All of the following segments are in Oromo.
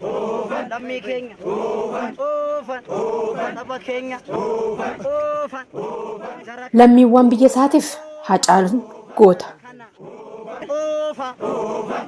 Oofan. Lammii keenya. Oofan. Oofan. Saba keenya. Oofan. Oofan. Jara Lammiiwwan biyya isaatiif Hacaaluun goota. kana. Oofa.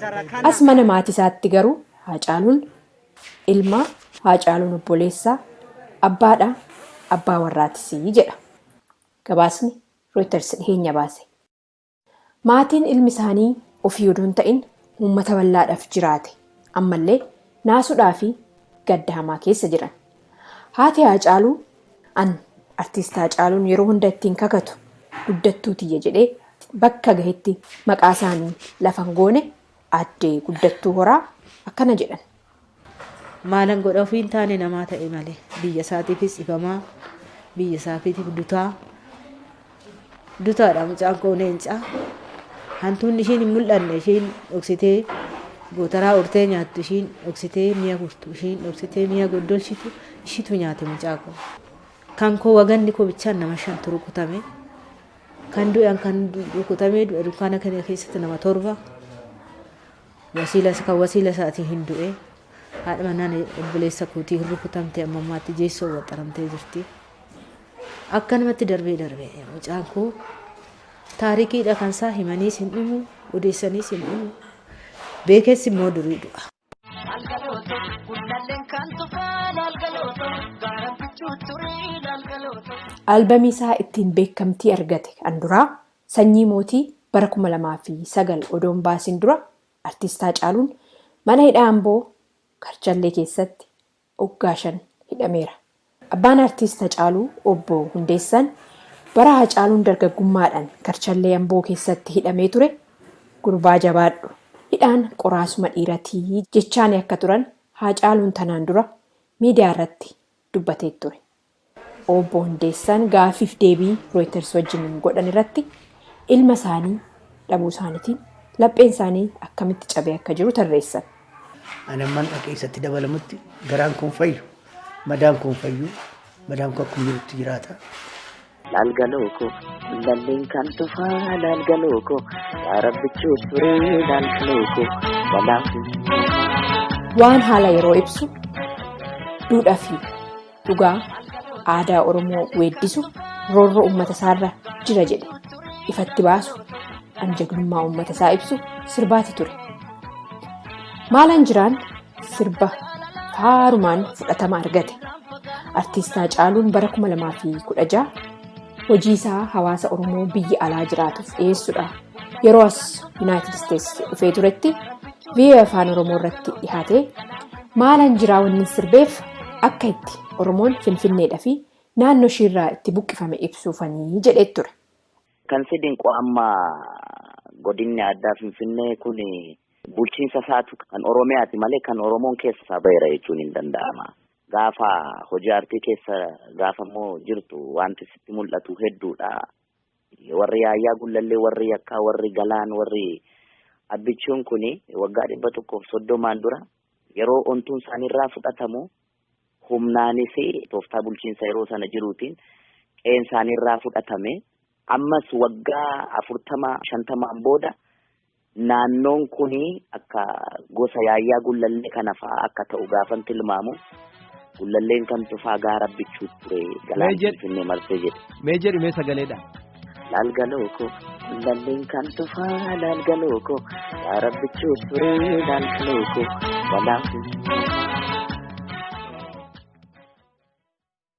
Jara kana. As mana maatii isaatti garuu Hacaaluun ilma Hacaaluun obboleessaa abbaadha abbaa warraatis jedha gabaasni Reuters dhiheenya baase. Maatiin ilmi isaanii ofii odoo hin ta'in uummata bal'aadhaaf jiraate ammallee naasuudhaa fi gadda hamaa keessa jiran. Haati Haacaaluu an Artiist Haacaaluun yeroo hunda ittiin kakatu guddattuu tiyya jedhee bakka gahetti maqaa isaanii lafa hin goone Aadde Guddattuu Horaa akkana jedhan. Maalan godha ofii hin taane namaa ta'e malee biyya isaatiifis dhibamaa biyya isaatiif dutaa dutaadha mucaan koo leencaa hantuunni ishiin hin mul'anne ishiin dhoksitee gootaraa urtee nyaattu ishiin dhoksitee mi'a gurtu ishiin dhoksitee mi'a goddolchitu ishiitu nyaate mucaa koo kan koo waganni koo bichaan nama shantu rukutame kan du'an kan rukutamee du'e dunkaana kana keessatti nama torba Wasiila kan wasiila isaatii hin du'e. Haadha manaan obboleessa kootii hin rukutamte amma ammaatti jeessoo waxxaramtee jirti. Akkanumatti darbee darbee mucaan koo taarikiidha kan isaa himaniis hin dhumu odeessaniis hin dhumu beekeessi immoo durii du'a. Algalooto gullalleen kan tufaan algalooto gaaraan bichuu turii algalooto. Albamii isaa ittiin beekamtii argate kan duraa Sanyii Mootii bara 2009 odoo hin baasiin dura Artiist Haacaaluun mana hidhaa Amboo Karchallee keessatti oggaa shan hidhameera. Abbaan Artiist Hacaaluu Obbo Hundeessaan bara Haacaaluun dargaggummaadhaan Karchallee Amboo keessatti hidhamee ture gurbaa jabaadhu hidhaan qoraasuma dhiirati jechaani akka turan Haacaaluun tanaan dura miidiyaarratti dubbatee ture. Obbo Hundeessaan gaaffiif deebii Rooyiters wajjin godhan irratti ilma isaanii dhabuu isaaniitiin lapheen isaanii akkamitti cabee akka jiru tarreessan. Ani amman dhaqee isatti dabalamutti garaan kun fayyu, madaan kun fayyu, madaan kun akkuma jirutti jiraata. Laal galoo koo lalleen kan tufaa laal galoo koo yaa rabbichuu turee laal galoo koo balaa fi Waan haala yeroo ibsu duudhaa fi Dhugaa aadaa Oromoo weeddisu roorroo uummata isaarra jira jedhe ifatti baasu an jagnummaa uummata isaa ibsu sirbaati ture. Maalaan jiraan sirba faarumaan fudhatama argate. Artiistaa Caaluun bara 2016 hojii isaa hawaasa Oromoo biyya alaa jiraatuuf dhiyeessudha. Yeroo as Yuunaayitid Isteetsi dhufee turetti VOA Afaan Oromoo irratti dhihaate maalan jiraa wannin sirbeef akka itti Oromoon Finfinneedha fi naannoo ishiirraa itti buqqifame ibsuufanii jedhee ture. Kan si dinqu amma godinni addaa Finfinnee kun bulchiinsa isaatu kan Oromiyaati malee kan Oromoon keessa isaa baheera jechuun hin danda'ama. Gaafa hojii aartii keessa gaafa immoo jirtu wanti sitti mul'atu hedduudha. Warri Yaayyaa Gullallee, warri Yakkaa, warri Galaan, warri Abbichuun kun waggaa dhibba tokkoof soddomaan dura yeroo ontuun isaaniirraa fudhatamu humnaanis tooftaa bulchiinsa yeroo sana jiruutiin qe'een isaaniirraa fudhatame ammas waggaa afurtama shantamaan booda Naannoon kun akka gosa yaayyaa gullallee kana fa'aa akka ta'u gaafan tilmaamu gullalleen kan tufaa gaara bichuu ture galaan Mee jedh- finfinnee marsee jedhe. Mee jedhi mee sagaleedha. Laal galoo koo gullalleen kan tufaa laal galoo koo gaara bichuu ture laal galoo koo galaan finfinnee.